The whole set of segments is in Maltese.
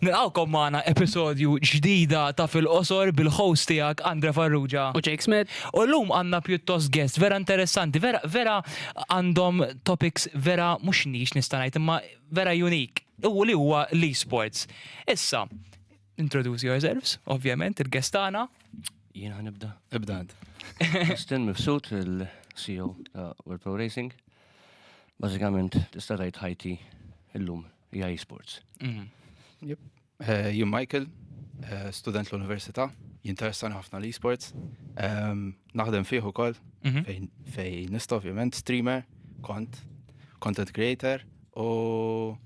Nilqawkom magħna episodju ġdida ta' fil-qosor bil-host tiegħek Andre Farrugia. U Jake Smith. U llum għandna pjuttost guest vera interessanti, vera vera għandhom topics vera mhux nix nista' ngħid imma vera unique. U li huwa l-esports. Issa, Introduce yourselves, ovvjament, il-guest tagħna. Jien ħan nibda. Ibda int. Justin Mifsud, il-CEO ta' World Pro Racing. Bażikament tista' tgħid ħajti illum hija esports. Mhm. Jep. Eh, Jien Michael, eh, student l-Università, jinteressani ħafna l-esports. Ehm, Naħdem fih ukoll Mhm. fejn fejn nista' ovvjament streamer, kont content creator u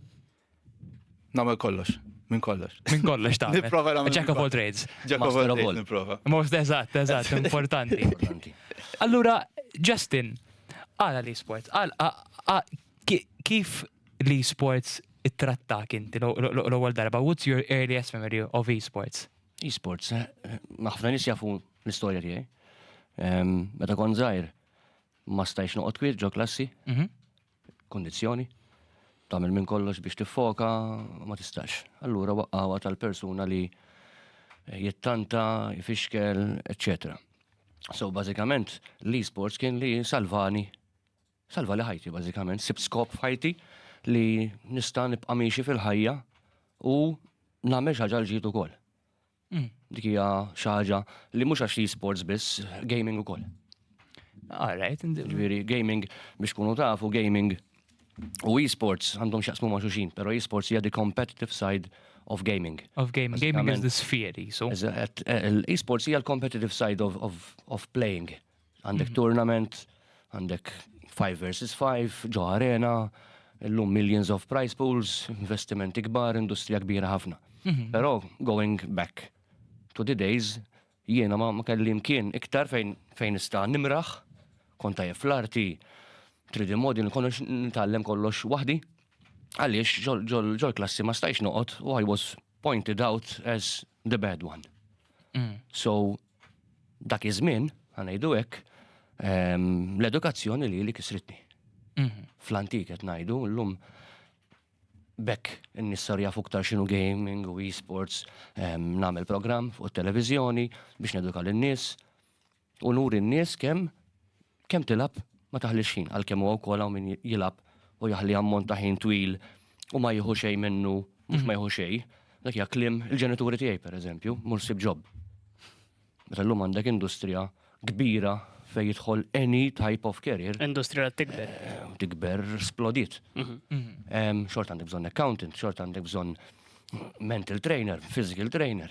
Namel kollox. Minn kollox. Minn kollox ta' Nipprova nagħmel. Jack of all trades. Jack of all trades nipprova. Most eżatt, eżatt, importanti. Allura, Justin, għala li sports, kif li sports it-tratta kinti l-ewwel darba, what's your earliest memory of e-sports? E-sports, eh, ħafna nis jafu l-istorja tiegħi. Meta kon żgħir, ma stajx noqgħod kwiet ġo klassi. Mhm. kundizzjoni, tagħmel minn kollox biex tiffoka u ma tistax. Allura waqqawa tal-persuna li jittanta, jfixkel, eċċetera. So bażikament l-e-sports kien li salvani salva li ħajti bażikament, sibt skop f'ħajti li nista' nibqa' miexi fil-ħajja u nagħmel xi ħaġa l-ġid ukoll. Dik hija xi ħaġa li mhux għax li sports biss, gaming ukoll. All right, ġifieri gaming biex kunu tafu gaming u e-sports għandhom xaqsmu ma' xuxin, però e-sports hija the competitive side of gaming. Of gaming, gaming is the sphere, so. E-sports hija l-competitive side of, of, of playing Għandek mhm. tournament, għandek 5 versus 5, ġo arena, l-lum millions of price pools, investimenti kbar, industrija kbira ħafna. Mhm. Pero going back to the days, jiena ma kelli mkien iktar fejn fejn ista nimraħ, konta jef l-arti, 3D model, konnox nitallem kollox wahdi, għaliex ġol klassi ma stajx noqot u I was pointed out as the bad one. Mm. So, dak iż-żmien, għanajdu hekk, ehm, l-edukazzjoni li li kisritni. Mhm. Fl-antik qed ngħidu llum bekk n-nissar jafu ktar xinu gaming u e-sports ehm, nagħmel programm fuq it-televiżjoni biex neduka lin-nies U nuri n-nies kemm kemm tilgħab ma taħlix ħin, għalkemm huwa wkoll hawn min jilgħab u jaħli ammont ta' ħin twil u ma jieħu xejn minnu, mhux ma jieħu xejn, dak hija kliem il-ġenituri tiegħi pereżempju, mur ssib ġob. Meta llum għandek industrija kbira fejn jidħol any type of career. Industrija tikber. Eh, tikber splodit. Mhm. Mhm. Xort għandek bżonn accountant, xort għandek bżonn mental trainer, physical trainer.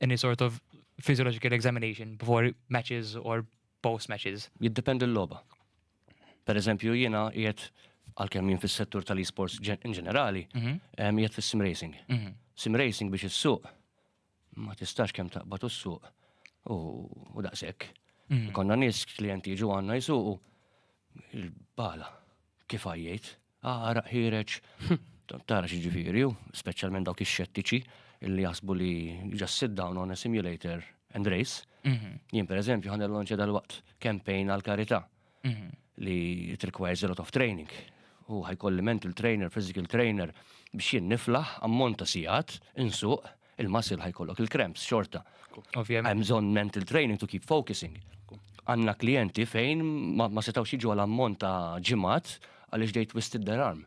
any sort of physiological examination before matches or post matches? Jiddependi l-loba. Per eżempju, jina jiet għal-kem jien fis-settur tal-esports in ġenerali, mhm. jiet fis-sim racing. Mhm. Sim racing biex is-suq ma tistax kemm taqbad u s-suq u daqshekk. Mhm. Konna nies klienti jiġu għandna jisuqu il-bala kif għajjejt. Għaraq ħireċ, tara xġifiri, u specialment dawk ix-xettiċi li jasbu li just sit down on a simulator and race. Mhm. Jien per eżempju ħan l-lonċa dal-waqt campaign għal karita mhm. li it requires a lot of training. U ħajkolli mental trainer, physical trainer biex jien niflaħ ammont ta' sijat, insuq, il-muscle ħajkollok il-cramps xorta. Ovvjament. Hemm bżonn mental training to keep focusing. Għandna klijenti fejn ma, ma setgħux jiġu għal ammont ta' ġimgħat għaliex they twisted their arm.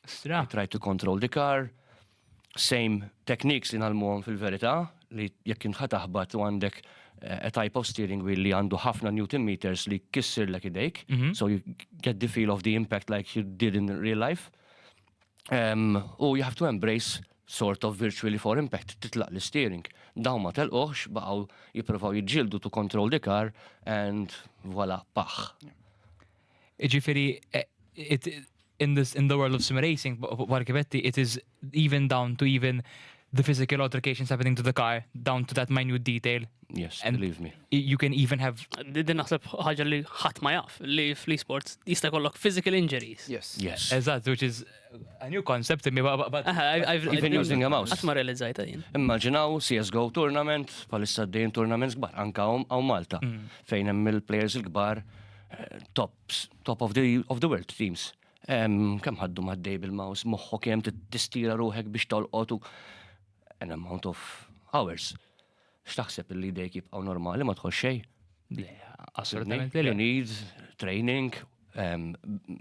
Stra. Try to control the car, same techniques li nalmuhom fil-verità li jekk intħa taħbat u għandek eh, a type of steering wheel li għandu ħafna newton meters li kissir l idejk, mm -hmm. so you get the feel of the impact like you did in real life. U you have to embrace sort of virtually for impact, titlaq l-steering. Daw ma telqoħx, baqaw jiprofaw jġildu to control the car and voila, paħ. Ġifiri, eh, in, this, in the world of sim racing, barkibetti, it is even down to even the physical altercations happening to the car down to that minute detail. Yes, and believe me. You can even have. Din naħseb ħaġa li ħadd ma jaf li fl-esports jista' jkollok physical injuries. Yes. Yes. Eżatt, which is a new concept imma but I've been using a mouse. Qatt ma realizzajta jien. Immaġinaw CS:GO tournament, palissa d tournaments kbar anka hawn Malta mm. fejn hemm il-players il-kbar eh, tops, top of the of the world teams. Kemm ħaddu maddej bil-mouse moħħok kemm tistira ruħek biex tolqot u an amount of hours. X'taħseb li dejk jibqgħu normali ma tħoss xejn? Le, assolutament. You need training,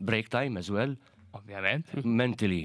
break time as well. Ovvjament. Mentally.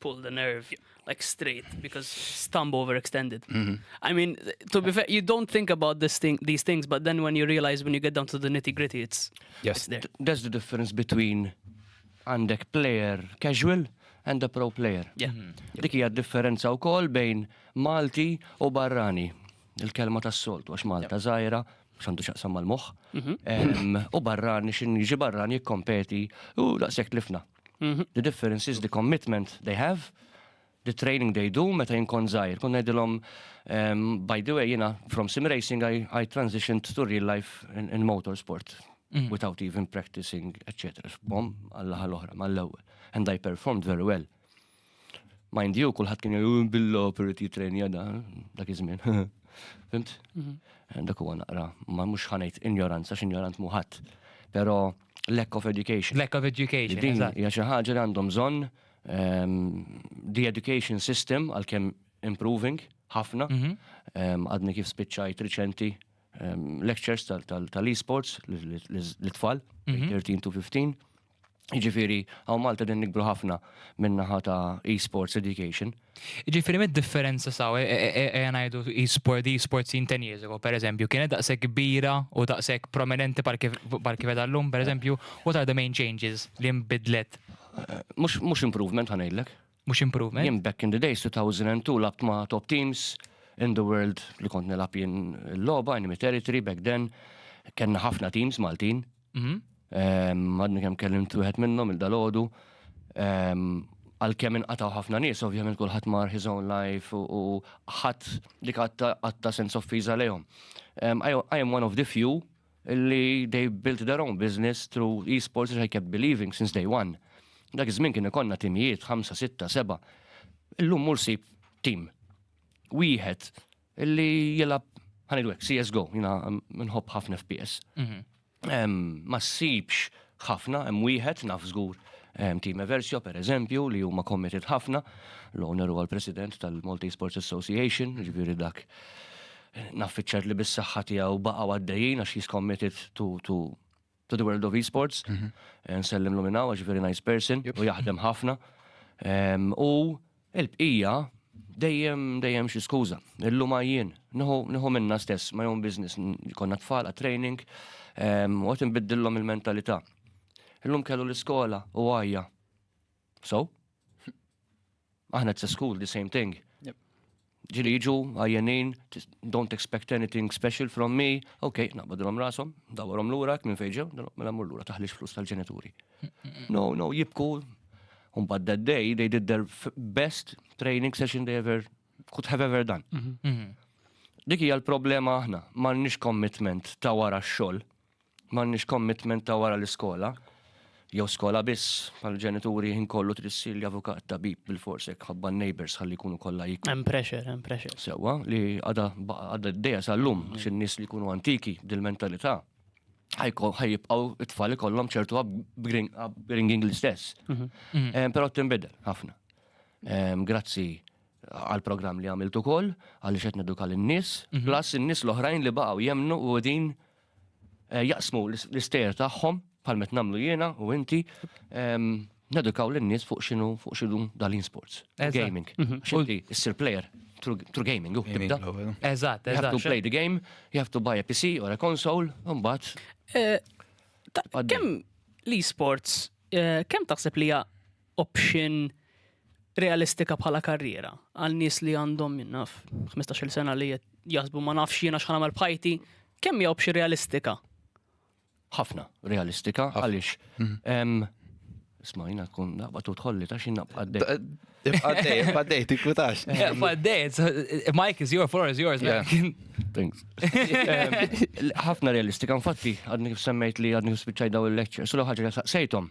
pull the nerve like straight because stump overextended. Mm -hmm. I mean, to be fair, you don't think about this thing, these things, but then when you realize when you get down to the nitty gritty, it's yes. It's there. That's the difference between għandek player casual and a pro player. Yeah. Mm -hmm. Dik hija differenza wkoll bejn Malti u barrani. Il-kelma tas-soltu għax Malta yeah. żgħira xandu xaqsam mal-moħ. Mhm. U barrani, xin jiġi barrani jikkompeti u daqsek tlifna. Mhm. The difference is the commitment they have, the training they do, meta jinkon zaħir. Kun najdilom, um, by the way, jina, from sim racing, I, I transitioned to real life in, in motorsport, mm. without even practicing, etc. Bom, għallaħal oħra, mal-ewel. And I performed very well. Mind you, kullħat kien jgħu billo per jitrejnija da, dak iż-żmien. Fimt? Mhm. Eh, dak huwa naqra, ma mhux ħanejt injoranza, x'injorant muħat. Però lack of education. Lack of education. Din hija xi ħaġa li għandhom bżonn ehm, the education system għalkemm improving ħafna. Mhm. Ehm, għadni kif spiċċajt riċenti ehm, lectures tal-esports l-tfal, 13 mhm. to 15. Ġifiri, għaw Malta din nikbru ħafna minnaħa ta' e-sports education. Ġifiri, mid differenza saw, e, e, e, għanajdu e-sport, e-sport sin ten years ago, per eżempju, kienet daqse kbira u daqse prominenti par kif edallum, per eżempju, what are the main changes li mbidlet? Mux improvement għanajlek. Mux improvement? Jim back in the days, 2002, labt ma' top teams in the world li kont nilab jien l-loba, in territory back then, kena ħafna teams Maltin, Mhm. Ehm, Għadni kemm kellimt wieħed minnhom il-dalodu. Ehm, Għalkemm inqataw ħafna nies, ovvjament kulħadd mar his own life u- u ħadd li għatta għatta sense of fiża lejhom. Ehm, I, I am one of the few li they built their own business through esports which I kept believing since day one. Dak iż-żmien kien ikonna timijiet 5, 6, 7. Illum mur sib tim. Wieħed Illi jilab, ħanid għek, CSGO, jina nħobb ħafna FPS. Mhm. Ma ssibx ħafna, hemm wieħed naf żgur Team Eversio, per eżempju, li huma committed ħafna, l-owner huwa l-president tal-Multi Sports Association, ġviri dak naffiċċar li bis-saħħa tiegħu baqgħu għaddejjin għax he's committed to, to to the world of esports. Nsellem l minna, għax very nice person, u jaħdem ħafna. U il-bqija, dejjem, dejjem xi skuża. Illum għajjien, nħu minna stess, my own business, konna tfal għat training, u għat nbiddillom il-mentalità. Illum kellu l-iskola u għajja. So? Aħna it's a school, the same thing. Ġili jiġu, għajjenin, don't expect anything special from me, ok, naqbadilom rasom, dawarom l-ura, minn fejġew, mela mur l-ura, taħlix flus tal-ġenituri. No, no, jibku, un bad that day, they did their best training session they ever, could have ever done. Mhm. Mhm. Dik hija l-problema aħna, m'għandniex commitment ta' wara x-xogħol. M'għandniex commitment ta' wara l-iskola, jew skola biss, bħal ġenituri ħin kollu trid ssir avukat, tabib, bilfors hekk ħabba n-neighbors ħalli jkunu kollha jikru. Hemm pressure, hemm pressure. Sewwa, li għadha għadha d-dejja sal-lum, mm. xi nies li jkunu antiki dil-mentalità ħajibqaw it-tfal ikollhom ċertu upbringing l-istess. Mhm. Mhm. Eh, però tinbidel ħafna. Eh, grazzi għal programm li għamiltu kol, għalli xet neduka l-nis, mhm. plus n-nis l-oħrajn li baqaw jemnu u din jaqsmu l-istejjer tagħhom bħal met nagħmlu jiena u inti nedukaw lin-nies fuq x'inhu fuq x'inhu dalin sports. Gaming. Mhm. X'inti issir player through gaming u tibda. Eżatt, eżatt. You have to play the game, you have to buy a PC or a console, mbagħad. Eh, kemm l-esports eh, kemm taħseb li hija option realistika bħala karriera għal nies li għandhom naf 15-il sena li jaħsbu ma nafx jiena x'ħan nagħmel b'ħajti, kemm hija option realistika? Ħafna realistika għaliex mhm. Smajna tkun naqba tu tħolli ta' xin naqba għaddej. Għaddej, għaddej, tikkutax. Għaddej, Mike is your, floor is yours. Thanks. Ħafna realistika, infatti, għadni kif semmejt li għadni kif spiċċaj daw il-lecture, sulu ħagġa sejtom.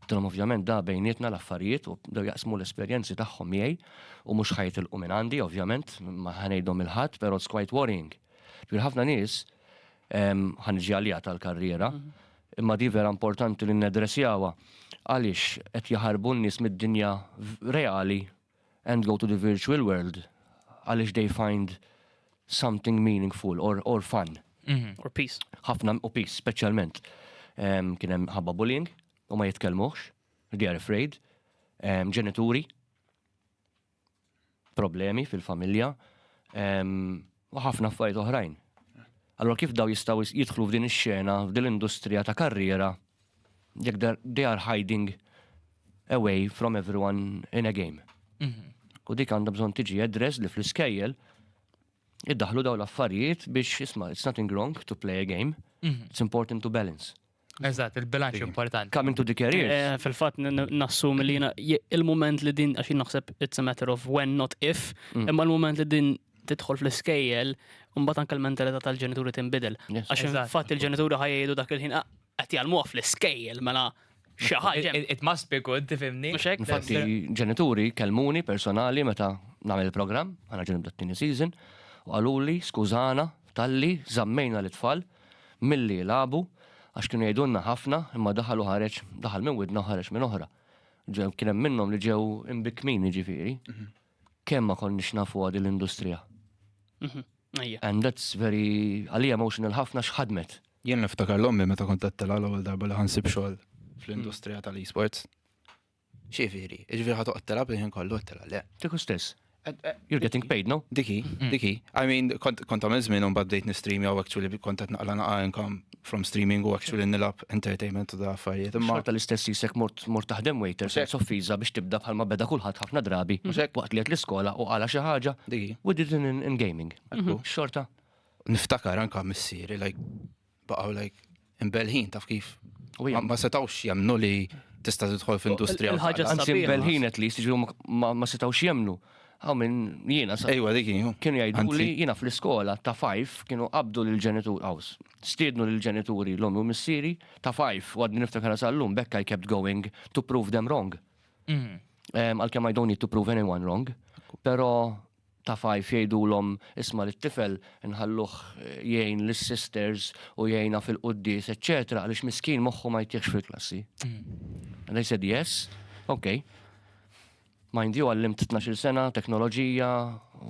Għattilhom ovvjament da bejnietna l-affarijiet u bdew jaqsmu l-esperjenzi tagħhom miegħi u mhux ħajtilqu minn għandi ovvjament, ma ħanejthom lil ħadd, però it's quite worrying. Ġifieri ħafna nies, ħa niġi għaliha tal-karriera, imma di vera importanti li naddressjawha, għaliex qed jaħarbu n-nies mid-dinja reali and go to the virtual world għaliex they find something meaningful or, or fun. Mm -hmm. Or peace. Ħafna u peace, specialment. Um, Kien hemm ħabba bullying u ma jitkellmuhx, they are afraid. Um, ġenituri, problemi fil-familja. Um, U ħafna affarijiet oħrajn. Allura kif dawn jistgħu jidħlu f'din ix-xena, f'din l-industrija ta' karriera jekk they are hiding away from everyone in a game. U dik għandha bżonn tiġi address li fl-iskejjel iddaħlu daw l-affarijiet biex isma' it's nothing wrong to play a game, it's important to balance. Eżatt, il-bilanċ importanti. Coming to the career. Eh, fil-fatt nassum li jina il-moment li din għaxin naħseb it's a matter of when not if, mm. imma il-moment li din tidħol fl-iskejjel, mbagħad anke l-mentalità tal-ġenituri tinbidel. Għax fatt il-ġenituri ħajjedu dak il-ħin ah, qed jgħalmuha fl-iskejjel mela xi ħaġa. It must be good, tifhimni. Infatti ġenituri kelmuni personali meta nagħmel il-programm, għana ġenib dat-tieni season, u qaluli skużana talli żammejna l-tfal Milli jilagħbu, għax kienu jgħidulna ħafna, imma daħal u ħareġ, daħal minn widna u ħareġ minn oħra. Ġew, kien hemm minnhom li ġew imbikkmin, jiġifieri. Kemm ma konniex nafuha din l-industrija. And that's very, għalija emotional ħafna x'ħadmet. Jien niftakar l-ommi meta kont qedtilha l-ewwel darba li ħansib xogħol fl-industrija tal-esports. Xifieri, ġifieri ħa toqgħod telab il-ħin kollu qed telab le. Kieku stess. You're getting paid, no? Diki, mm. diki. I mean, kont għamil żmien un baddejt nistream jew actually kont qed naqla naqa income from streaming u actually nilab entertainment u da affarijiet. Imma ta' l-istess jisek mort mort taħdem waiter se soffiża biex tibda bħalma beda kulħadd ħafna drabi waqt li qed l-iskola u għala xi ħaġa u did in gaming. Mhm. Xorta. Niftakar anka missieri like baqgħu like imbelħin taf kif. U hija ma setgħux jemnu li tista' tidħol f'industrija. Il-ħaġa anzi imbelħin at least jiġu ma setgħux jemnu. Għaw minn jiena sa. Ejwa dik Kienu jgħidu li jiena fl-iskola ta' fajf kienu qabdu lill-ġenitur għaws. Stiednu lill-ġenituri l-omi u missieri ta' fajf u għadni niftakar sal-lum bekk I kept going to prove them wrong. Mhm. Għalkemm I don't need to prove anyone wrong. Pero ta' Fife jgħidulhom, Isma' lit-tifel, inħalluh jgħin lis-sisters u jgħinha fil-quddies, eċċetera, għaliex miskin moħħu ma jtieħx fil-klassi. And they said yes, ok. Mind you, għallimt 12-il sena, teknoloġija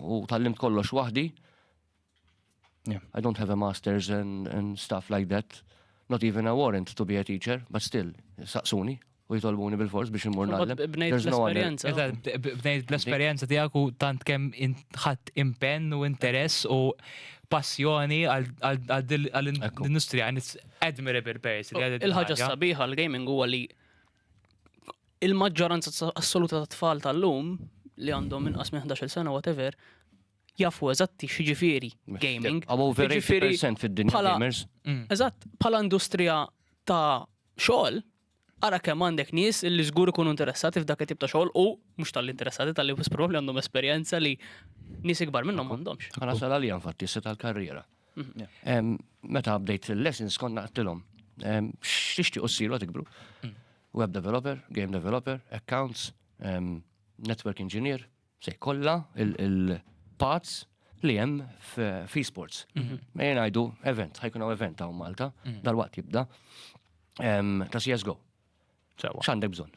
u tgħallimt kollox waħdi. Yeah, I don't have a master's and, and stuff like that. Not even a warrant to be a teacher, but still, saqsuni u jitolbuni bil-fors biex imur nagħlem. Bnejt l-esperjenza. Bnejt l-esperjenza tiegħek u tant kemm ħadd impenn u interess u passjoni għall-industrija and it's admirable person. Il-ħaġa sabiħa l-gaming huwa li il-maġġoranza assoluta ta' tfal tal-lum li għandhom inqas minn 11 sena whatever jafu eżatti x'jiġifieri gaming. Għaw over 80% fid-dinja gamers. Mm. Eżatt, bħala industrija ta' xogħol, ara kemm għandek nies li żgur ikunu interessati f'dak it-tip ta' xogħol u mhux tal-interessati tal-li probabbli għandhom esperjenza li nies ikbar minnhom m'għandhomx. Għana sal għalija infatti se tal-karriera. Mhm. Meta bdejt il-lessons konna għattilhom. X'tixtieq ussiru għatikbru? Mm. Web developer, game developer, accounts, network engineer, se jkollha il-pazz li hemm f'esports. Mhm. Mejn ngħidu event, ħajkun hawn event hawn Malta, mhm. dal-waqt jibda ta' CSGO. X'għandek bżonn?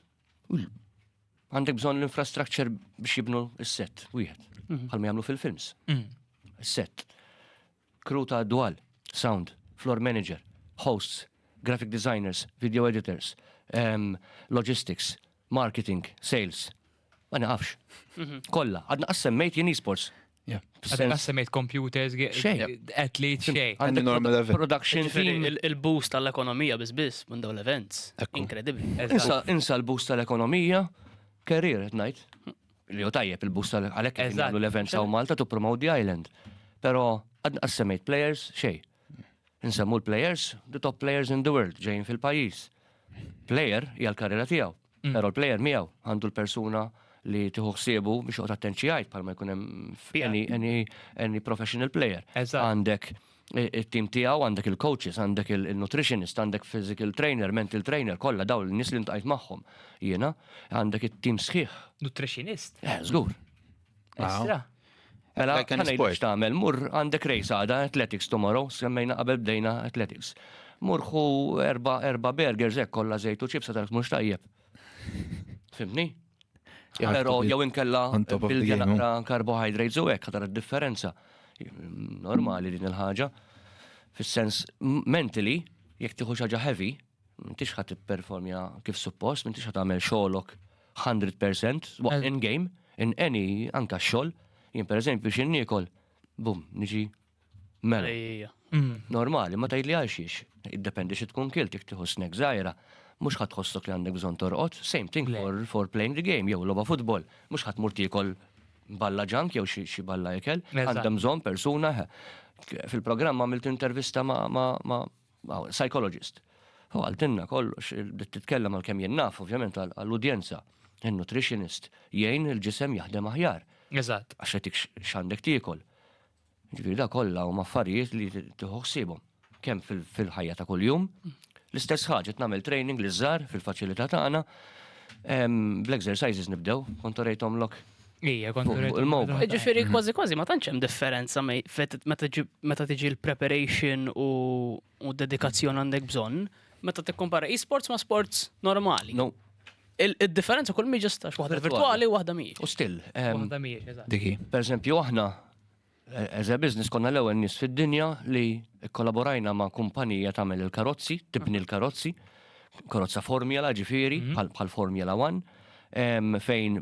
Għandek bżonn l-infrastructure biex jibnu s-set wieħed, mhm. bħalma jagħmlu fil-films. Set, crew ta' dwal, sound, floor manager, hosts, graphic designers, video editors, logistics, marketing, sales, Ma nafx. Mhm. Kolla, għadna għassemmejt jien esports. Għadna għassemmejt computers, athlete, xej. Għandi normal event. Production team. Il-boost tal-ekonomija bizbis minn dawn l-events. Inkredibli. Insa l-boost tal-ekonomija, career, najt. Li jo tajjeb il-boost tal-għalek l-events għaw Malta to promote the island. Pero għadna għassemmejt players, xej. Insemmu l-players, the top players in the world ġejjin fil-pajjiż. Player hija l-karriera tiegħu, mm. però l-player miegħu għandu l-persuna li tiħu ħsiebu biex uqgħod attenzjajt bħalma jkun hemm any professional player. Għandek il-team tiegħu għandek il-coaches, għandek il-nutritionist, għandek physical trainer, mental trainer, kollha daw l-nies li ntajt magħhom. Jiena għandek it-team sħiħ. Nutritionist? Eh, żgur. Estra. Mela, kan sport tagħmel, mur għandek rejs għada, athletics tomorrow, semmejna qabel bdejna athletics. Mur hu erba erba burgers hekk kollha żejt u ċipsa tal mhux tajjeb. Fimni? Pero jew inkella bil-ġena naqra carbohydrates u hekk ħadar id-differenza. Normali din il-ħaġa. Fis-sens mentally, jekk tieħu xaġa heavy, M'intix ħa tipperformja kif suppost, m'intix ħa tagħmel xogħolok 100% waqt in game, in any anka xogħol. Jien pereżempju xi niekol, bum, niġi mela. Mm. Normali, ma tgħidli għal xiex. Iddependi xi tkun kilt jekk tieħu snack żgħira, mhux ħadd ħossok li għandek bżonn torqod, same thing for, for playing the game jew logħba futbol, mhux ħadd mur tiekol balla ġank jew xi balla ikel, għandem bżonn persuna. Fil-programm għamilt intervista ma' Psychologist. U għaltinna kollox, bdiet titkellem għal kemm jien naf, ovvjament għall-udjenza. Il-nutritionist jgħin il-ġisem jaħdem aħjar. Eżatt. Għax jagħtik x'għandek tiekol. Ġifieri da kollha huma affarijiet li tieħu ħsiebhom kemm fil-ħajja ta' kuljum. L-istess ħaġa qed nagħmel training li żgħar fil-faċilità tagħna. Bl-exercises nibdew, kont orejthom lok Ija, kont il-mowba. Ġifiri, mhm. kważi kważi ma tantx hemm differenza meta tiġi l-preparation u dedikazzjon għandek bżonn, meta tikkompara e-sports ma' sports normali. No. Il-differenza kull mi ġistax, waħda virtuali u waħda miex. U still. Waħda miex, eżatt. Diki. Per eżempju, aħna As a business konna l-ewwel nies fid-dinja li kkollaborajna ma' kumpanija tagħmel il-karozzi, tibni l-karozzi, karozza Formula ġifieri, bħal Formula One, fejn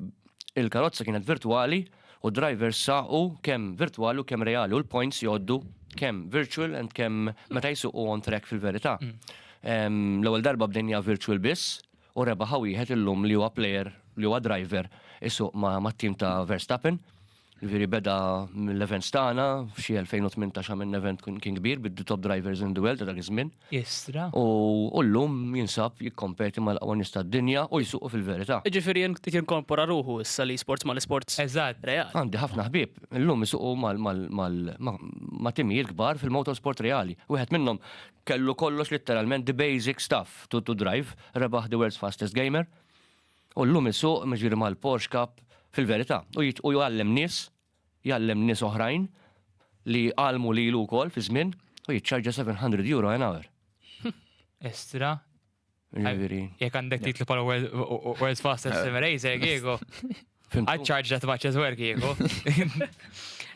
il-karozza kienet virtwali u drivers saqu kemm virtwali u kemm reali u l-points jgħoddu kemm virtual and kemm meta jsuqu on track fil-verità. L-ewwel darba bdejnija virtual biss, u rebaħha wieħed illum li huwa plejer, li huwa driver isuq mat-tim ta' Verstappen. Ġifieri beda mill-events tagħna f'xi 2018 għamilna event kien kbir bid-the top drivers in the world ta' dak iż-żmien. Istra. U llum jinsab jikkompeti mal-aqwa nies tad-dinja u jsuqu fil-verità. Jiġifieri inti tinkorpora ruħu issa l-esports mal-isports reali. Għandi ħafna ħbieb illum isuqu ma' timijiet kbar fil-motorsport reali. Wieħed minnhom Kellu kollox litteralment the basic stuff to to drive, rebaħ the world's fastest gamer u llum isuq jiġifieri mal-Porsche Cup fil-verità u jgħallem nies, jgħallem nies oħrajn li għallmu lilu wkoll fi żmien u jiċċarġa 700 euro an hour. Estra. Ġifieri. Jekk għandek titlu bħala World's Fastest Sim Racer, Giego. I charge that much as well, Giego.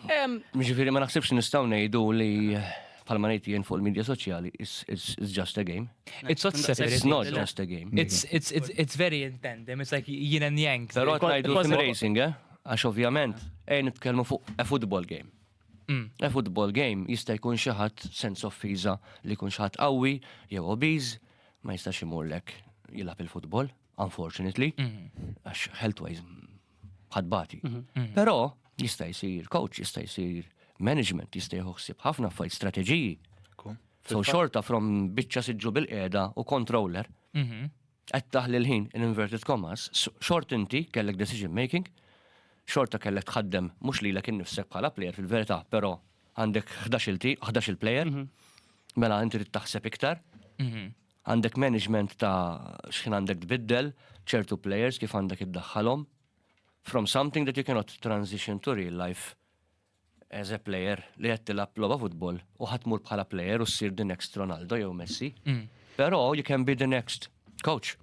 Ġifieri ma naħsibx nistgħu ngħidu li bħalma ngħid jien fuq il-medja soċjali, it's just a game. It's not separate. It's not just a game. It's, it's, it's, it's very in tandem, it's like yin and yang. Pero għajdu sim racing, eh? Għax ovvjament, ej nitkellmu fuq a football game. A football game jista' jkun xi ħadd, sens offiża, li jkun xi ħadd qawwi jew obese ma jistax imurlek jilgħab il-futbol, unfortunately, għax healthwise ħadd bati. Però jista' jsir coach, jista' jsir management, jista' jieħu ħsieb ħafna affarijiet strateġiji. So xorta from biċċa siġġu bil-qiegħda u controller. qed taħli l-ħin in inverted commas, xort inti kellek decision making, xorta kellek tħaddem mhux lilek innifsek bħala player fil-verità, però għandek 11 il player mhm. mela inti trid taħseb iktar. Mhm. Għandek management ta' x'ħin għandek tbiddel, ċertu players kif għandek iddaħħalhom. From something that you cannot transition to real life as a player li qed tilgħab logħba futbol u ħadd mur bħala player u ssir the next Ronaldo jew Messi. Mm. Però you can be the next coach.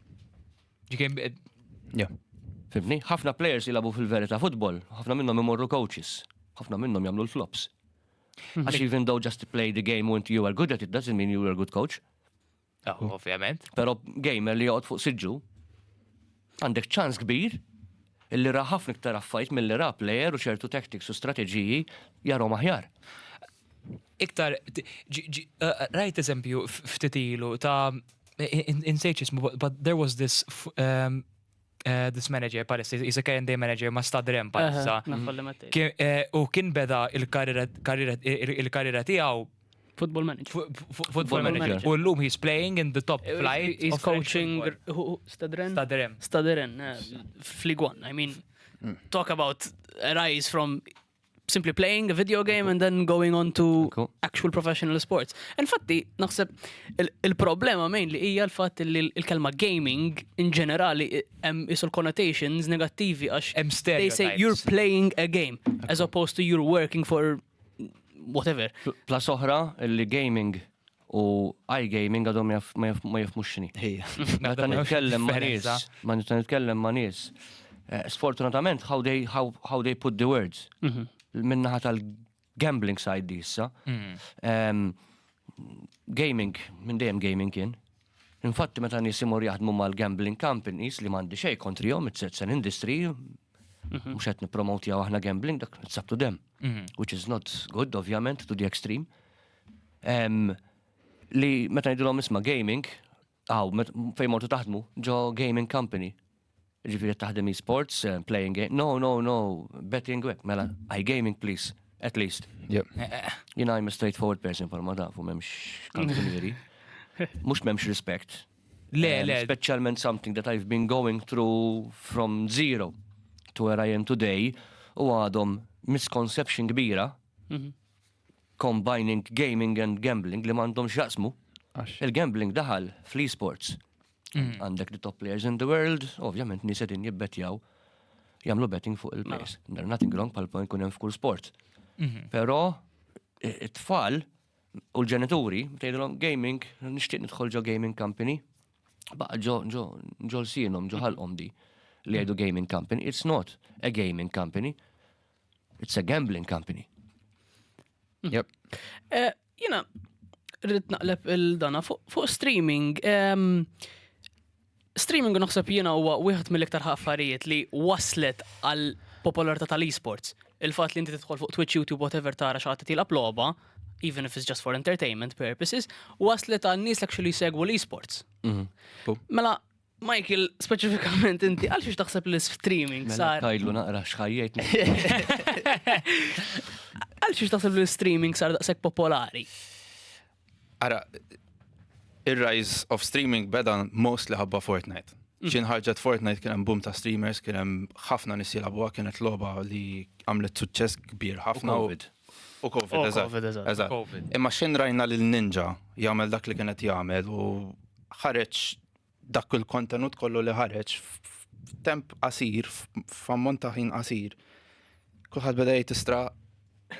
You can be yeah. Fibni, ħafna players jilabu fil-verita futbol, ħafna minnhom imorru coaches, ħafna minnhom jagħmlu l-flops. Mhm. Għax even though just to play the game when you are good at it doesn't mean you are a good coach. Ah, hmm. Ovvjament. Pero gamer li jgħod fuq siġġu, għandek ċans kbir illi ra ħafna iktar affajt mill-li ra player u ċertu tactics u strateġiji jarom aħjar. Iktar, uh, rajt eżempju ftitilu ta' insejċ ismu, but there was this um, Eh, this manager palissa, he's a current day manager ma stadrem palissa. Eh, u kien beda il-karriera tiegħu Football manager. Football manager. U l-lum he's playing in the top eh, flight. He's coaching Stadren. Stadren. Stadren. Fligwan. I mean, mm. talk about a rise from simply playing a video game and then going on to actual professional sports. Infatti, naħseb il-problema main li hija l-fatt li l-kelma gaming in ġenerali hemm isul connotations negattivi għax they say you're playing a game as opposed to you're working for whatever. Plus oħra li gaming u iGaming għadhom ma jifmux xini. Meta nitkellem ma' nies, ma nitkellem ma' nies. Eh, sfortunatament, how they, how, how they put the words. Mhm. Minnaħa tal-gambling side di issa. Mhm. Gaming, minn dejjem gaming kien. Infatti, meta nies imur jaħdmu mal-gambling companies li mandi xej kontrihom, it's, it's an industry, mhm. mux għet nipromotja aħna gambling, dak sabtu dem. Which is not good, ovvjament, to the extreme. li meta ngħidulhom isma' gaming, għaw, fejn mortu taħdmu, ġo gaming company. Ġifieri taħdem e-sports, eh, playing game. No, no, no, betting web, mela, I gaming please, at least. Eh, eh, Jina I'm a straightforward person for ma tafu memx kanzunieri. Mux memx respect. Le, le. Specialment something that I've been going through from zero to where I am today u għadhom misconception kbira mhm. combining gaming and gambling li m'għandhom x'jaqsmu. Il-gambling daħal fl-esports. Mm. Għandek the top players in the world, ovvjament nies qegħdin jibbettjaw jagħmlu betting fuq il-players. Mela. There nothing wrong pal point kunem hemm f'kull sport. Mhm. Però it-tfal u l-ġenituri tgħidilhom gaming, nixtieq nidħol ġo gaming company, baqa ġo ġo ġo l-sienhom ġo ħalqhom di li jgħidu gaming company, it's not a gaming company. It's a gambling company. Mhm. Yep. Eh, jina, rrit naqleb il-dana fuq streaming. Streaming naħseb jina huwa wieħed mill-iktar ħaffarijiet li waslet għal popolarità tal-esports. Il-fatt li inti tidħol fuq Twitch, YouTube, whatever tara xaħat tilab logħba, even if it's just for entertainment purposes, waslet għal nies actually segwu l-esports. Mhm. Mela, Michael, speċifikament inti, għal xiex taħseb li streaming mela sar. Tajlu naqra xħajjajt. Għal xiex taħseb li streaming sar daqsek popolari? Ara, il-rise of streaming beda most li ħabba Fortnite. Mm. Xien ħarġet Fortnite kien hemm boom ta' streamers, kien hemm ħafna nies jilagħbuha kienet logħba li għamlet suċċess kbir ħafna. U Covid. U Covid, eżatt. Imma xien rajna lil Ninja jagħmel dak li kienet jagħmel u ħareġ dak il-kontenut kollu li ħareġ f'temp qasir, f'ammont ta' ħin qasir, kulħadd beda jtistra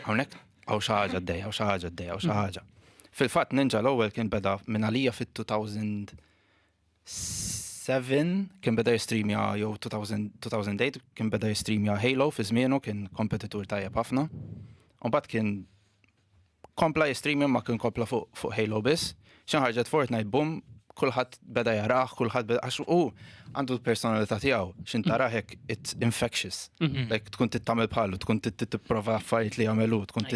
hawnhekk hawn xi ħaġa d-dej, hawn xi ħaġa d-dej, hawn xi ħaġa. Fil-fatt Ninja l-ewwel kien beda minn għalija fit-2000 7 kien beda jistreamja jew 2008 kien beda jistreamja Halo fi żmienu kien kompetitur tajjeb ħafna. U bat kien Kompla jistream imma kien kompla fuq fuq Halo biss. Xi ħarġet Fortnite boom, kulħadd beda jarah, kulħadd beda għax hu għandu l-personalità tiegħu x'in tarah hekk it's infectious. Like tkun tittamel bħalu, tkun tipprova affarijiet li jagħmel hu, tkun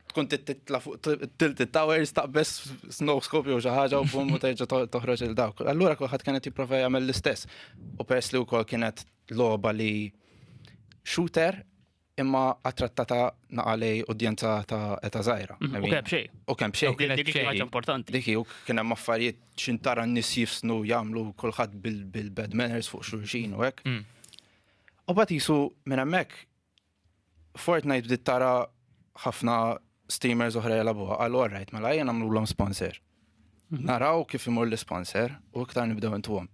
tkun titla fuq tilt towers taqbes snow scope jew xi ħaġa u boom u terġa' toħroġ il dawk. Allura kulħadd kien qed jipprova jagħmel l-istess. U peress li wkoll kienet logħba li shooter imma attrattata naqalej udjenza ta' eta zaħira. Mhm, u kemm xej. U kemm xej. Dik ħaġa importanti. Dik u kien hemm affarijiet xintara n-nies jifsnu jagħmlu kulħadd bil-bad manners fuq xulxin u hekk. Mm. U bat jisu minn hemmhekk Fortnite bdiet tara ħafna streamers oħra jelabuha għal alright mela jien għamlu l sponsor. Naraw kif imur l-isponsor u iktar nibdew intuhom.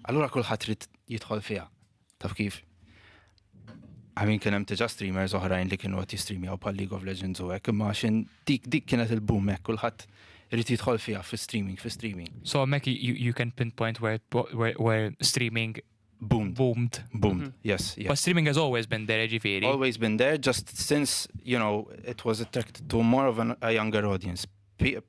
Allura kulħadd trid jidħol fiha. Taf kif? Għamin kien hemm tiġa streamers oħrajn li kienu qed jistreamjaw bħal League of Legends u hekk, imma x'in dik dik kienet il-boom hekk kulħadd irid jidħol fiha fi streaming, fi streaming. So hemmhekk you, you can pinpoint where, where, where streaming boomed. Boomed. Boomed, mm -hmm. yes. Yeah. But streaming has always been there, ġifiri. Always been there, just since, you know, it was attracted to more of an, a younger audience. P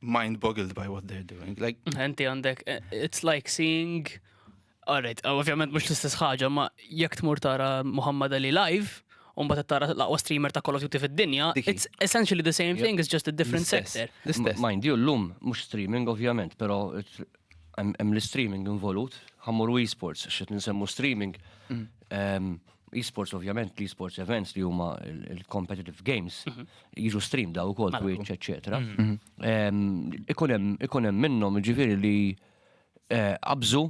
mind boggled by what they're doing. Like, Enti għandek, eh, it's like seeing, alright, uh, ovvjament mux l-istess ħaġa, ma jek tmur tara Muhammad Ali live, un bat tara l-aqwa streamer ta' Call of Duty fid-dinja, Diki. it's essentially the same thing, it's just a different L-istess. sector. L-istess. Mind you, l-lum mux streaming ovvjament, pero it- hemm hemm l-streaming involut, ħammur u e-sports, xet nsemmu streaming. Em, Esports ovvjament, l-esports events li huma il-competitive games, mhm. jiġu stream daw ukoll Twitch, eċetera. Mhm. Ikun hemm minnhom ġifieri li eh, qabżu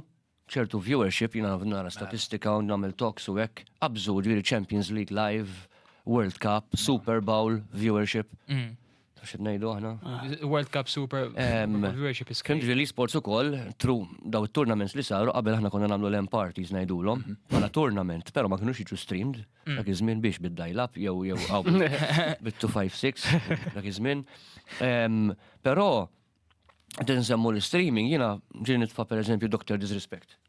ċertu viewership, jina nara statistika u nagħmel talks u hekk, qabżu ġifieri Champions League Live, World Cup, Super Bowl, viewership. Mhm. Taf xed ngħidu aħna? World Cup Super Viewership is Kien ġieli sports ukoll, tru, daw it-tournaments li saru qabel aħna konna nagħmlu l-end parties ngħidulhom, mhm. bħala tournament, però ma kinux jiġu streamed, mm. dak iż-żmien biex bid-dial up jew jew bit-256 dak iż-żmien. Però tinsemmu l-streaming jiena ġieli nitfa' pereżempju Dr. Disrespect.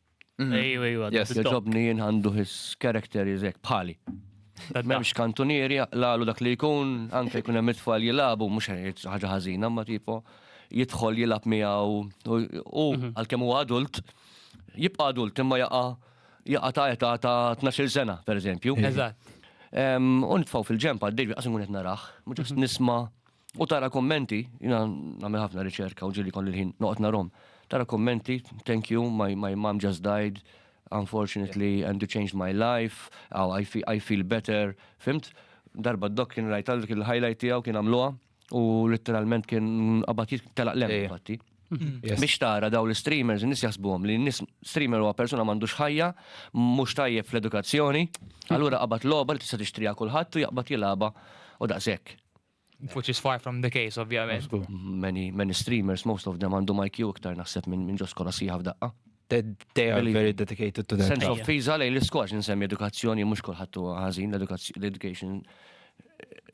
Mhm. Ejju, ejju, għaddu. Yes, Joġobni jien għandu his character jizek bħali. Memx kantunieri jaqlalu dak li jkun, anke jkun hemm it-tfal jilabu, mhux ħaġa ħażina, ma tipo jidħol jilab miegħu u mhm. għalkemm huwa adult, jibqa' adult imma jaqa' jaqa' ta' età ta' 12 sena, pereżempju. Eżatt. U nitfgħu fil-ġempa, d-dejbi qasmu qed naraħ, mhux mhm. nisma' U tara kommenti, jina namil ħafna riċerka u ġili kolli l-ħin noqt narom. Tara kommenti, thank you, my, my mom just died, unfortunately, and you changed my life, oh, I, feel, I feel better, fimt? Darba d-dok kien rajt għal kien highlight tijaw kien għamluwa u literalment kien għabat telaq lem fatti. Mm-hmm. Biex tara daw l-streamers, nis jasbuhom li nis streamer huwa persona m'għandux ħajja, mhux tajjeb fl-edukazzjoni, allura qabat logħba li tista' tixtriha kulħadd u jaqbad jilaba u daqshekk. Which is far from the case, ovvjament. Many, many streamers, most of them għandhom IQ iktar naħseb minn min ġos kolla siħa f'daqqa. They are very dedicated to that. Sense of fiza lejn l-iskox nsemmi edukazzjoni mhux kulħadd huwa ħażin l-education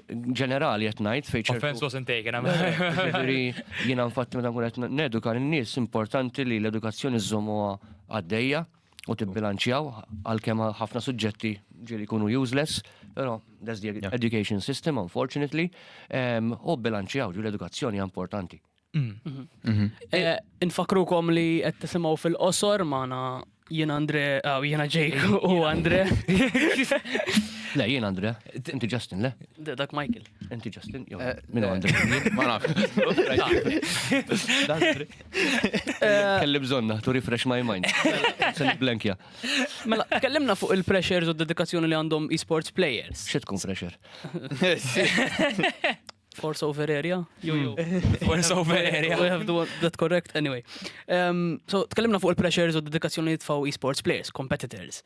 ġenerali qed ngħid fejn ċertu. Offense wasn't taken, Ġifieri jiena nfatt meta nkun qed neduka lin-nies importanti li l-edukazzjoni żżommuha għaddejja u tibbilanċjaw għalkemm ħafna suġġetti ġieli jkunu useless, però that's the education system unfortunately, ehm, u bilanċjaw ġieli edukazzjoni importanti. Mm. Mhm. Mhm. Eh, Infakrukom li qed tisimgħu fil-qosor magħna jien Andre, ah, jiena Jake u Andre. Le, jien Andre, inti Justin, le? Dak Michael. Inti Justin, jew eh, minn eh, Andre. Ma nafx. Eh, Kelli bżonna, to refresh my mind. Se niblankja. Mela, tkellimna fuq il-pressures u d-dedikazzjoni li għandhom e-sports players. Xi tkun fresher? Force over area? Jo, jo. Force over area. We have the one- that correct, anyway. Um, so, tkellimna fuq il-pressures u d-dedikazzjoni li tfaw e-sports players, competitors.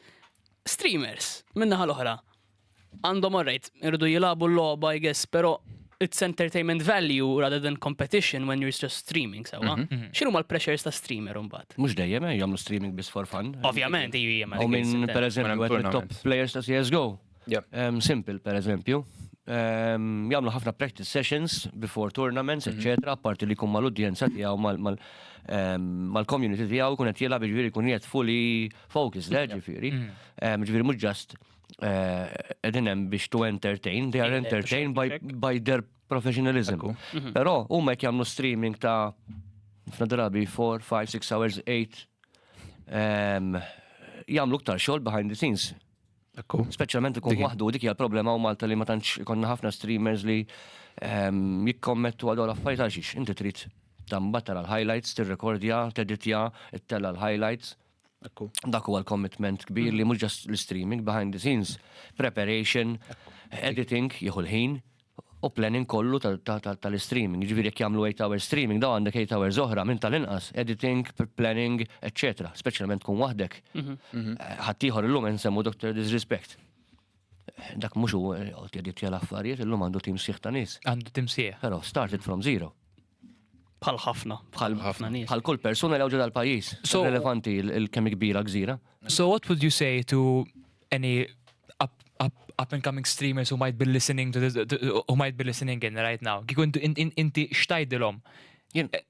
Streamers, minna ħal oħra. Għandhom alright, iridu jilagħbu l-logħba I guess, però it's entertainment value rather than competition when you're just streaming sewa. Mhm, mhm. X'inhu mal pressures ta' streamer imbagħad? Mhux dejjem eh, jagħmlu streaming biss for fun. Ovvjament iju jemma. U minn per eżempju għed top players ta' CSGO. Um, simple per eżempju. Um, jagħmlu ħafna practice sessions before tournaments, mhm. etc. Apparti li kumma l-udjenza tiegħu mal- ehm, mal-community tiegħu kun qed jilgħab ġifieri kun qed fully focus, le ġifieri. Ġifieri mhux just qegħdin hemm biex to entertain, they are entertained by, by their professionalism. Mhm. Però huma qed jagħmlu streaming ta' ħafna drabi 4, 5, 6 hours, 8 ehm, jagħmlu ktar xogħol behind the scenes. Ekku. Speċjalment ikun waħdu dik hija problema u Malta li ma tantx ikonna ħafna streamers li ehm, jikkommettu għal affarijiet għal xiex. Inti trid tambat tara l-highlights, tirrekordja, teditja, ittella l-highlights. Dak huwa l-commitment kbir li mhux just l-streaming, behind the scenes, preparation, editing, jieħu l-ħin, u planning kollu tal-streaming. Ġifieri jekk jagħmlu 8 hours streaming, daw għandek 8 hours oħra minn tal-inqas, editing, planning, etc. Speċjalment tkun waħdek. Ħaddieħor illum insemmu Dr. Disrespect. Dak mhux hu qod jaditja l-affarijiet, illum għandu tim sieħ ta' nies. Għandu tim sieħ. Però started from zero. Bħal ħafna, bħal ħafna nies. Bħal kull persuna li ġodha l-pajjiż. So relevanti l-kemm kbira gżira. So what would you say to any up and coming streamers who might be listening to this, who might be listening in right now. Kikun inti xtajdilhom.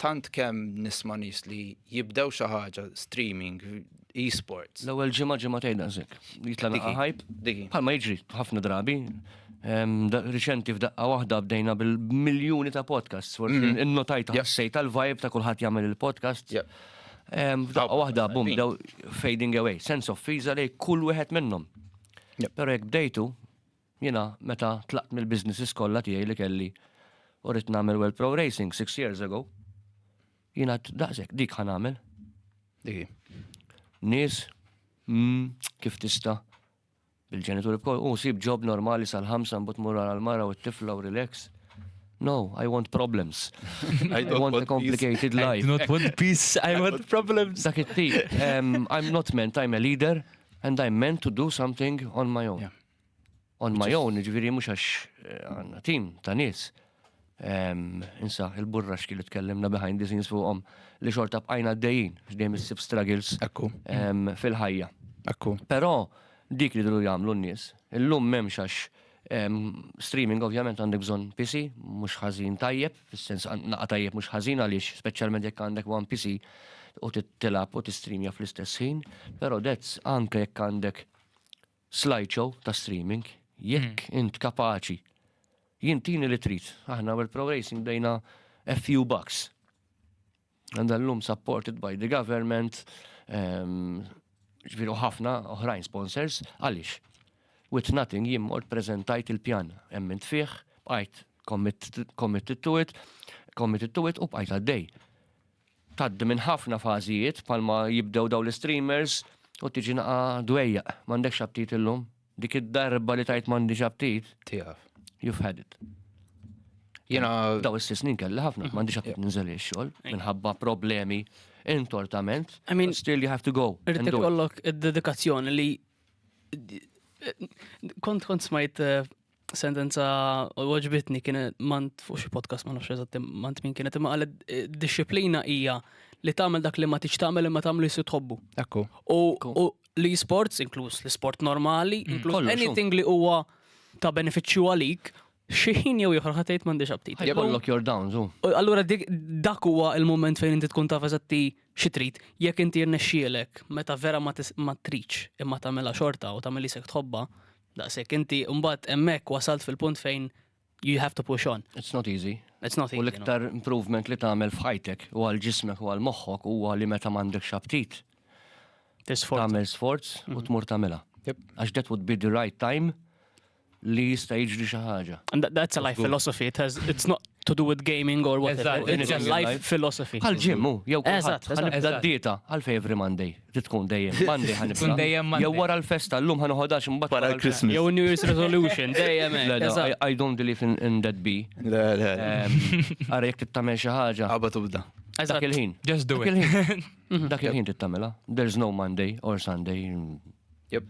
tant kemm nisma' nies li jibdew xi ħaġa streaming, e-sports. L-ewwel ġimgħa ġimgħa tgħid daqsek. Jitla' naqa' ħajb. Bħalma jiġri ħafna drabi. Riċenti f'daqqa waħda bdejna bil-miljuni ta' podcasts, forsi mm. innotajt ħassejt tal-vibe ta' kulħadd jagħmel il-podcast. F'daqqa waħda bum daw fading away, sense of fiza lej kull wieħed minnhom. Però jekk bdejtu, Jiena meta tlaqt mill-businesses kollha tiegħi li kelli u ridt nagħmel World Pro Racing six years ago, jien għedt daqshekk dik ħa nagħmel. Dik hi. Nies, mm, kif tista' bil-ġenituri bkoll, u sib ġob normali sal-ħamsa mbagħad mur għal mara u t-tifla u relax. No, I want problems. I don't want a complicated I life. do not want peace, I want problems. Dak it-tip, em, I'm not meant, I'm a leader and I'm meant to do something on my own. Yeah. on my own, ġviri mux għax eh, għanna tim ta' nis. Insa, il-burra xki li tkellimna behind the scenes fuqom li xorta bqajna d-dejjin, xdejjem s-sib struggles fil-ħajja. Ekku. Pero, dik li dlu jamlu n-nis, il-lum memx għax streaming ovvjament għandek bżon PC, mux ħazin tajjeb, fil-sens naqa tajjeb mux ħazin għalix, specialment jekk għandek one PC u t-tilab u t-streamja fl-istess ħin, pero dezz anke jekk għandek slideshow ta' streaming, jekk int kapaċi, jien tini li trid, aħna World Pro Racing bdejna a few bucks. And l-lum supported by the government, ehm, ġviru ħafna oħrajn sponsors, għalix. With nothing jien mort prezentajt il-pjan, emmint fih, bqajt committed to it, committed to it u bqajt għaddej. tgħaddi minn ħafna fażijiet bħalma jibdew dawn l-istreamers u tiġi naqa' dwejjaq, m'għandekx aptit illum. Dik id-darba li tajt m'għandix aptit. Tiegħek. You've had it. Jena. Daw is-sis snin kelli ħafna, m'għandix aptit ninżel ix-xogħol minħabba problemi intortament. I mean, still you have to go. Irrid ikollok id-dedikazzjoni li kont kont smajt eh, sentenza u għoġbitni kienet mant fuq xi podcast ma nafx eżatt mant min kienet imma qalet eh, disċiplina hija li tagħmel dak li ma tiġ tagħmel imma tagħmlu jisir tħobbu. Ekku. U li sports, inkluż li sport normali, mm, inkluż anything li huwa ta' benefiċċju għalik, xieħin jew jħor ħatejt m'għandix aptit. Jkollok your downs, u. Allura dak huwa il-moment fejn inti tkun taf eżatti xi trid, jekk inti rnexxielek meta vera ma triċ imma tagħmilha xorta u tagħmel isek tħobba, Daqshekk inti mbagħad hemmhekk wasalt fil-punt fejn you have to push on. It's not easy. It's not easy. U l-iktar improvement li tagħmel f'ħajtek u għal ġismek u għal moħħok huwa li meta m'għandekx aptit. Tagħmel sforz u mhm. tmur tagħmilha. Għax that would be the right time li jista' jiġri xi ħaġa. And that's a life philosophy. It has, it's not to do with gaming or whatever. It's a life philosophy. Għal ġimmu, jew kulħadd. Għal dieta, għal every Monday. tkun dejjem Monday ħanibda. Tkun dejjem Monday. Jew wara l-festa llum ħanoħodax imbagħad wara l-Christmas. Jew New Year's resolution dejjem. I don't believe in that be. Le, le. Ara jekk tittamel xi ħaġa. Aba tubda. Dak il-ħin. Just do it. Dak il-ħin tittamela. There's no Monday or Sunday. Yep.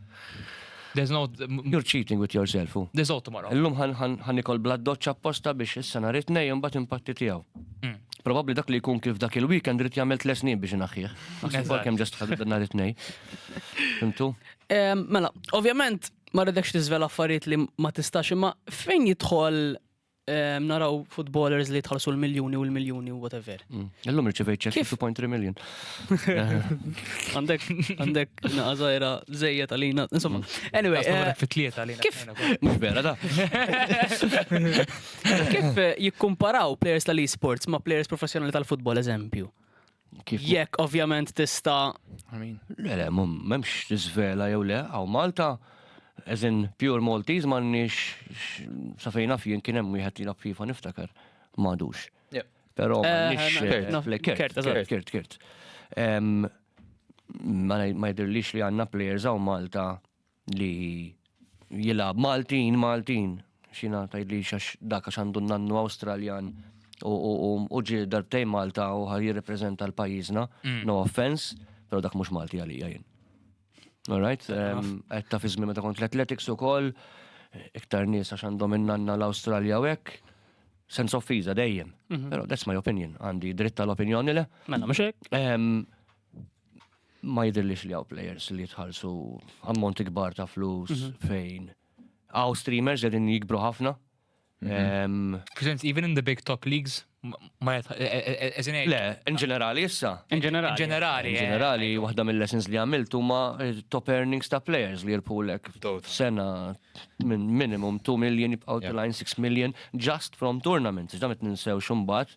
There's no... You're cheating with yourself. There's no tomorrow. Illum ħan nikol bla doċċa apposta biex issa nhar it-tnejn imbagħad impatti tiegħu. Mm. Probabbli dak li jkun kif dak il-weekend rrit jagħmel tles snin biex inaħħih. Naħseb kemm ġast ħadet nhar it-tnejn. Fimtu? Mela, ovvjament ma rridekx tiżvela affarijiet li ma tistax imma fejn jidħol Ehm, naraw footballers li tħallsu l-miljoni u l-miljoni u whatever. Mm. Illum rċivejt ċek 2.3 million. Għandek, għandek naqazajra zejja tal-lina, insomma. Mm. Anyway. Eh, Fit-tlieta lina. Kif? Mux vera da. Kif eh, jikkumparaw players tal-esports ma players professjonali tal-futbol, eżempju? Jekk ovvjament tista. Le, le, memx tiżvela jew le, għaw Malta, eżin pure Maltese m'għandniex sa fejn naf jien kien hemm wieħed li FIFA niftakar m'għadux. Però eh, m'għandniex kert, kert, kert. Ma jidhirlix li għandna players għaw Malta li jilgħab Maltin, Maltin, xina tajt li xax daka xandu nannu Awstraljan u ġi darbtej Malta u ħaj jirrepreżenta l-pajjiżna, mm. no offense, pero dak mhux Malti għalija jien. Alright, qed ta' fiżmi meta kont l-athletics ukoll, iktar nies għax għandhom innanna l-Awstralja u hekk, sens of fiza dejjem. Mhm. Pero that's my opinion, għandi dritta l-opinjoni le. Mela mhux hekk. Ma jidhirlix li hawn players li jitħallsu ammonti kbar ta' flus mhm. fejn hawn streamers qegħdin jikbru ħafna. Mhm. Presents even in the big top leagues ma e- e- e- Le, in ġenerali issa. In ġenerali. ġenerali. In ġenerali, waħda mill-lessons li għamilt huma top earnings ta' players li jirpulek sena minn minimum 2 million jibqgħu tilajn 6 million just from tournaments. Ġdamet ninsew xumbat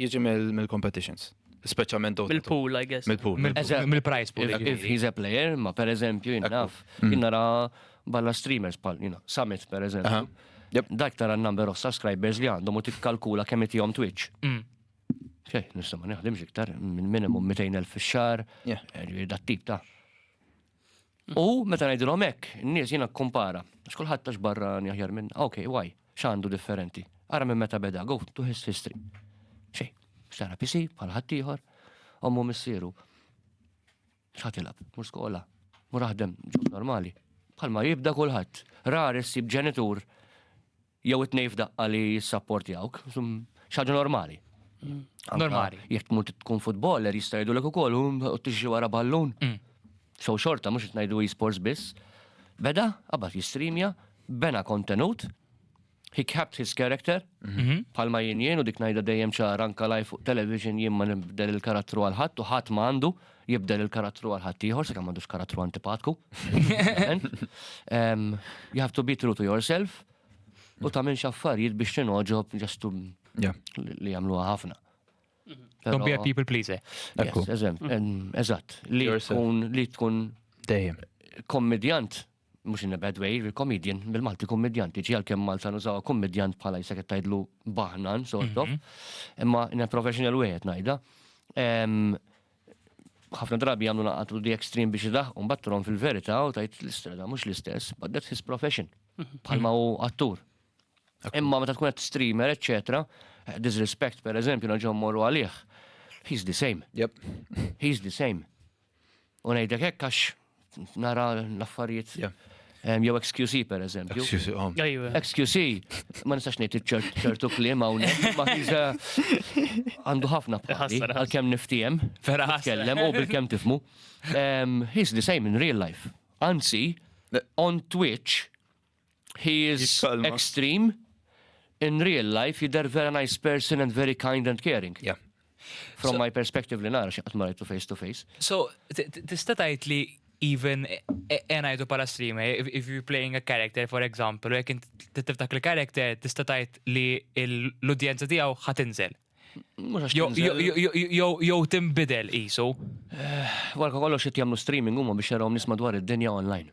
Jiġi mill-competitions. Speċjalment dawk. Mill-pool, I guess. Mill-pool. Mill-prize pool. If he's a player, ma per eżempju, jinnaf, jinnara balla streamers pal, jina, Summit per eżempju. Dak tara n-number of subscribers li għandhom u tikkalkula kemm itihom Twitch. Xej, nista ma neħdimx iktar, minn minimum 200,000 fix-xar, dat tip ta' U meta ngħidilhom hekk, in-nies jiena kkumpara, għax kulħadd tax barra aħjar minn, ok, why, x'għandu differenti. Ara minn meta beda, go to his history. Xej, xara PC, bħal ħaddieħor, ommu missieru. X'ħatilab, mur skola, mur aħdem, ġob normali. Bħalma jibda kulħadd. Rari ssib ġenitur Jew it-tnejn f'daqqa li jissapportjawk, xi ħaġa normali. Normali. Jekk tmur tkun futboller jista' jgħidulek ukoll u tixi wara ballun. Mm. So xorta mhux qed ngħidu e-sports biss. Beda, qabad jistreamja, bena kontenut, he kept his character, mhm. bħalma jien jien u dik ngħidha dejjem ċara anka live fuq television jien ma nibdel il-karattru għal ħadd u ħadd ma għandu jibdel il-karattru għal ħaddieħor sakemm m'għandux karattru antipatku. Em, You have to be true to yourself u tagħmilx affarijiet biex tinoġob ġestu Yeah. li jagħmluha ħafna. Don't be a Però- people pleaser. Ekku. Yes, eżem, em, Eżatt, li Yourself. tkun li tkun Dejjem. kommedjant mhux in a bad way, comedian, bil-Malti kummedjant, tiġi għalkemm Malta nużawha kummedjant bħala jisek qed tgħidlu baħnan sort of, mhm. imma in a professional way qed ngħidha. Ħafna drabi jagħmlu naqatu di extreme biex idaħqu mbagħad trom fil-verità u tajt l-istrada mhux l-istess, but that's his profession. Mhm. Bħalma hu attur. Imma meta tkun qed streamer, eċċetera, eh, disrespect per eżempju naġġom morru għalih. He's the same. Yep. He's the same. U ngħidlek hekk għax nara l-affarijiet. Jew XQC per eżempju. XQC, oh. XQC, ma nistax ngħid ċertu kliem hawnhekk, ma għandu ħafna bħassi, għalkemm niftiem, vera tkellem u bil-kemm tifmu. He's the same in real life. Anzi, on Twitch, He is extreme. In real life, jidher vera nice person and very kind and caring. Yeah. From so, my perspective li nara xaqt marajtu face to face. So, tista tajt li even e, e, enajdu pala streamer, if, if you're playing a character, for example, jek tiftak li character tista tajt li l-udjenza tijaw ħatinżel. Jow timbidel isu. Walka eh, kollox jt jamlu streaming huma biex jarawm nisma dwar id-dinja online.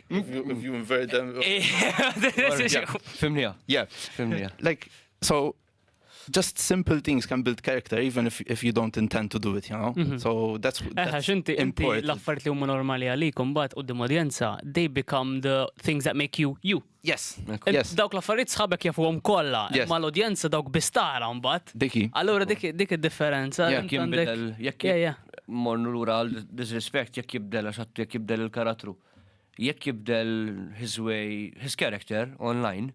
If you invert them. Fimnija. Yeah. Fimnija. Like, so, just simple things can build character even if, if you don't intend to do it, you know? Mm -hmm. So that's, eh, that's Eħa, xinti, inti l-affarijiet li huma normali għalikom bat u d-dimodjenza, they become the things that make you you. Yes. yes. Dawk l-affarijiet sħabek jafuhom kollha, yes. ma l-udjenza dawk bistara mbagħad. Diki. Allura dik dik id-differenza. Jekk jinbidel, jekk yeah, yeah. mornu lura għal disrespect jekk jibdel għax jekk jibdel il-karattru. Jekk jibdel his way, his character online,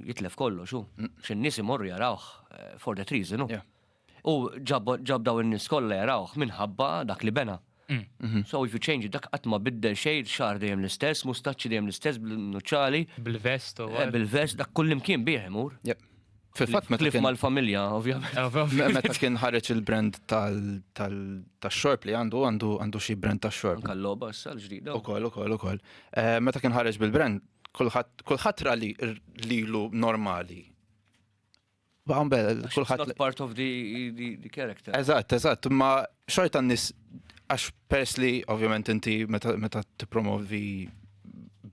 jitlef kollox hu. Xi nies imorru jarawh eh, for that reason hu. U ġab daw in-nies kollha jarawh minħabba dak li bena. Mm. Mhm. So if you change dak qatt ma biddel xejn, xar dejjem l-istess, mustaċċi dejjem l-istess bil-nuċċali. Bil-vest u. Eh, bil-vest dak kullimkien bih imur. Fil-fatt meta kien mal-familja, ovvjament. Eh, meta kien ħareġ il-brand tal-xorb li għandu għandu għandu xi brand tax-xorb. Kalloba issa l-ġdida. Ukoll, ukoll, ukoll. Eh, meta kien ħareġ bil-brand, kulħadd ra li lilu normali. Baqam bel, kulħadd. Not part of the, the, the character. Eżatt, eżatt, ma xorta n-nis, għax pers li ovvjament inti meta t-promovi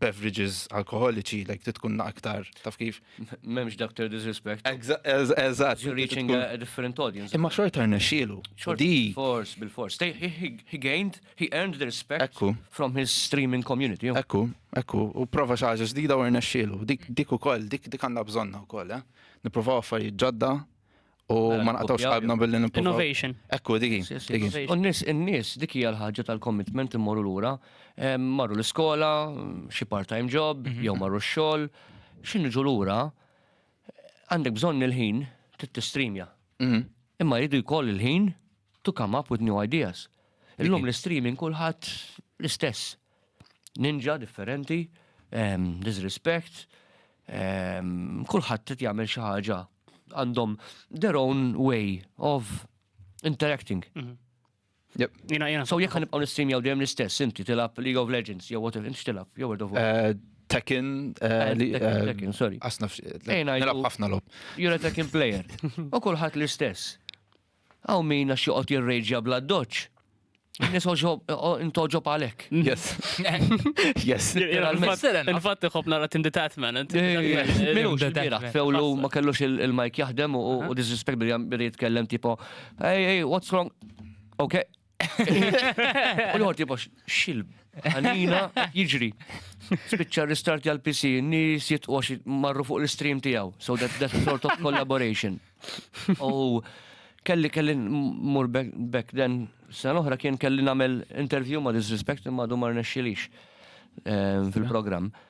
beverages alkoholiċi, like ti tkun aktar, taf kif? Memx doctor disrespect. Eżat. You're reaching a different audience. Imma xorta rnexxielu. Di. Force, bil-force. He gained, he earned the respect Ekku. from his streaming community. Ekku, ekku. U prova xaġa ġdida u rnexxielu. Dik u koll, dik dik għanna bżonna u koll, eh? Niprofaw affarijiet ġodda U Mela, ma nqatawx kopja. qalbna billi nippruvaw. Innovation. Ekku, digi. Yes, yes, digi. yes. U n-nies, in-nies, dik hija l-ħaġa tal-commitment immorru lura. Em, Marru l-iskola, xi part-time job, jew marru x-xogħol. Xi niġu lura, għandek bżonn il-ħin trid tistreamja. Mhm. Imma jridu jkoll il-ħin to come up with new ideas. Illum l-streaming kulħadd l-istess. Ninja differenti, disrespect, kulħadd qed jagħmel xi ħaġa għandhom their own way of interacting. Mhm. Jina, jina. So jekk nibqgħu nistreamjaw dejjem l-istess, inti tilab League of Legends, jew whatever, inti tilab, jew World of Warcraft. Eh, Tekken, eh, eh, Tekken, sorry. Asna ħafna lob. You're a Tekken player. U kulħadd l-istess. Hawn min għax joqgħod jirrejġja bl-addoċċ. Nis intoġob għalek. Yes. Yes. Infatti xop nara tim detatman. Minu xbiraħ, fewlu ma kellux il-mike jaħdem u disrespect billi jitkellem tipo, hey, hey, what's wrong? Okay, U l-ħor tipo xil għanina jiġri. Spiċċa restart għal PC, nis jitqox marru fuq l-stream tijaw. So that, that sort of collaboration. U kelli kelli mur back then sen oħra kien kelli namel interview ma disrespect ma du mar nexxilix eh, fil-program. Mm -hmm.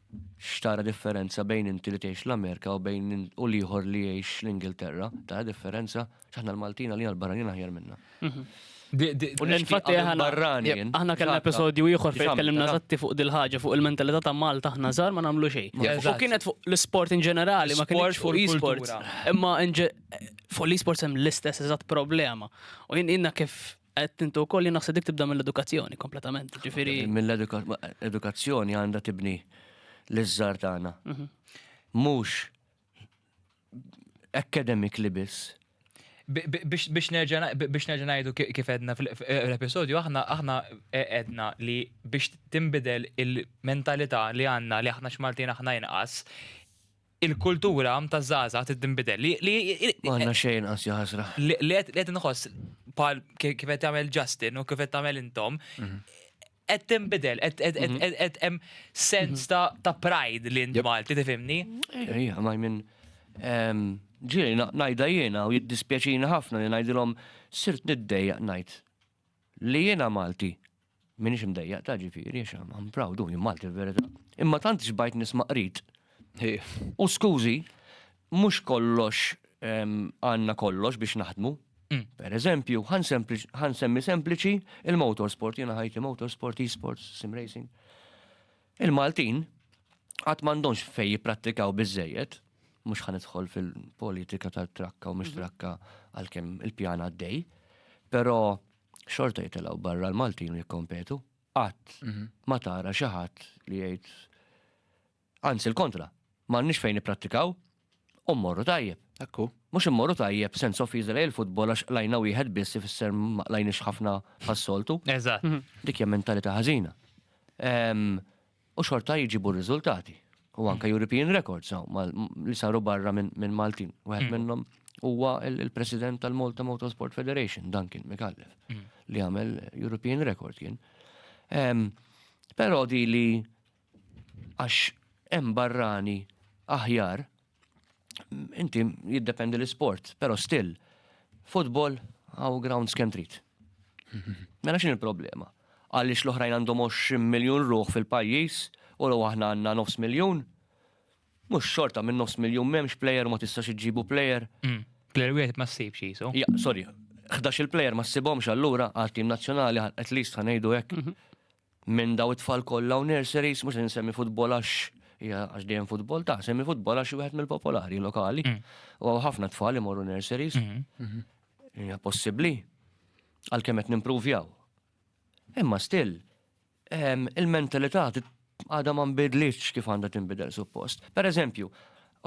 X'tara differenza bejn inti li tgħix l-Amerika u bejn u l-ieħor li jgħix l-Ingilterra? Tara differenza? X'aħna l-Maltin għalina l-barranin aħjar minna. Mhm. U l-infatti aħna kellna episodju ieħor fejn tkellimna żatti fuq dil-ħaġa fuq il-mentalità ta' Malta aħna żgħar ma nagħmlu xejn. U kienet fuq l-isport in ġenerali, ma kienx fuq l-isport. Imma fuq l-isport hemm l-istess eżatt problema. U jiena kif Qed intu wkoll li naħseb dik tibda mill-edukazzjoni kompletament, ġifieri. Mill-edukazzjoni għandha tibni l-iżżar tagħna. Mhm. Mhux academic li biss. Biex nerġa' ngħidu kif edna fl-episodju, aħna aħna e, edna li biex timbidel il-mentalità li għandna li aħna x'Maltin aħna inqas, il-kultura taż-żgħażagħ trid tinbidel. Li li Ma għandna xejn inqas ja ħasra. li li qed li qed inħoss bħal ki- kif qed tagħmel Justin u kif qed tagħmel intom, qed tinbidel, qed qed- qed- qed- qed hemm sens ta' ta' pride li int Malti tifhimni. Ejja, ejja, ma jmin. ehm, Ġieli, na- najda jiena u jiddispjaċini ħafna li najdilhom sirt niddejjaq najd. Li jiena Malti. Minix mdejjaq ta' ġifiri, għax I'm proud, u jien Malti verita. Imma tant xbajt nisma' qrid. U skużi, mhux kollox għandna kollox biex naħdmu. Per eżempju, ħa nsemmi sempliċi il-motorsport, jiena ħajti motorsport, e-sports, sim racing. Il-Maltin qatt m'għandhomx fejn jipprattikaw biżżejjed, mhux ħa nidħol fil-politika tal-trakka u mhux mhm. trakka għalkemm il-pjan għaddej, però xorta jitilgħu barra l-Maltin u jikkompetu. Qatt mhm. ma tara xi ħadd li jgħid anzi l-kontra, m'għandniex fejn nipprattikaw, u mmorru tajjeb. Hekk hu. Mhux immorru tajjeb sens offiża lejn il-futbol għax qlajna wieħed biss ifisser ma qlajniex ħafna bħas-soltu. Eżatt. Dik hija mentalità ħażina. U xorta jġibu r-riżultati. U anke European records li saru barra minn Maltin. Wieħed minnhom huwa il-President tal-Malta Motorsport Federation, Duncan Mikallef, li għamel European record kien. Però di li għax hemm barrani aħjar, inti jiddependi l-isport, però still, futbol għaw grounds kemm trid. Mela x'in il-problema? Għaliex l-oħrajn għandhom 20 miljun ruħ fil-pajjiż u l aħna għandna nofs miljun? Mhux xorta minn nofs miljun m'hemmx plejer ma tistax iġġibu plejer. Mm. Plejer wieħed ma ssibx jisu. Ja, sorry, 11 il-plejer ma ssibhomx allura għal tim nazzjonali at least ħanejdu hekk. Mhm. Minn daw it-tfal kollha u nurseries, mhux se nsemmi futbol għax hija għax dejjem futbol ta' semmi futbol għax wieħed mill-popolari lokali. Mm. U għaw ħafna tfal imorru nurseries. Mm-hmm. Mm-hmm. Hija possibbli għalkemm qed nimpruvjaw. Imma still, ehm, il-mentalità għadha ma nbidlitx kif għandha tinbidel suppost. Per eżempju,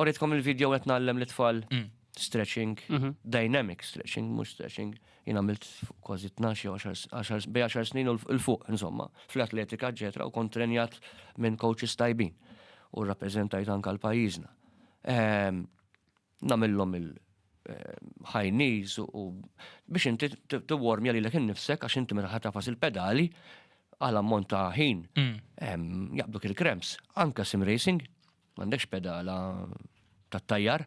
oritkom il-video qed nagħllem l-tfal mm. stretching, mm-hmm. dynamic stretching, mhux stretching. Jien għamilt kważi tnax jew għaxar bej għaxar snin u l fuq insomma, fl-atletika eċetera u kont trenjat minn coaches tajbin u rrappreżentajt anke għal pajjiżna. Ehm, Namillhom il high knees u biex inti t-warmja li l-ek nifsek għax inti meta ħatafas il-pedali għal ammont ta' ħin mm. jaqbduk il-krems. Anka sim racing, m'għandekx pedala tat-tajjar,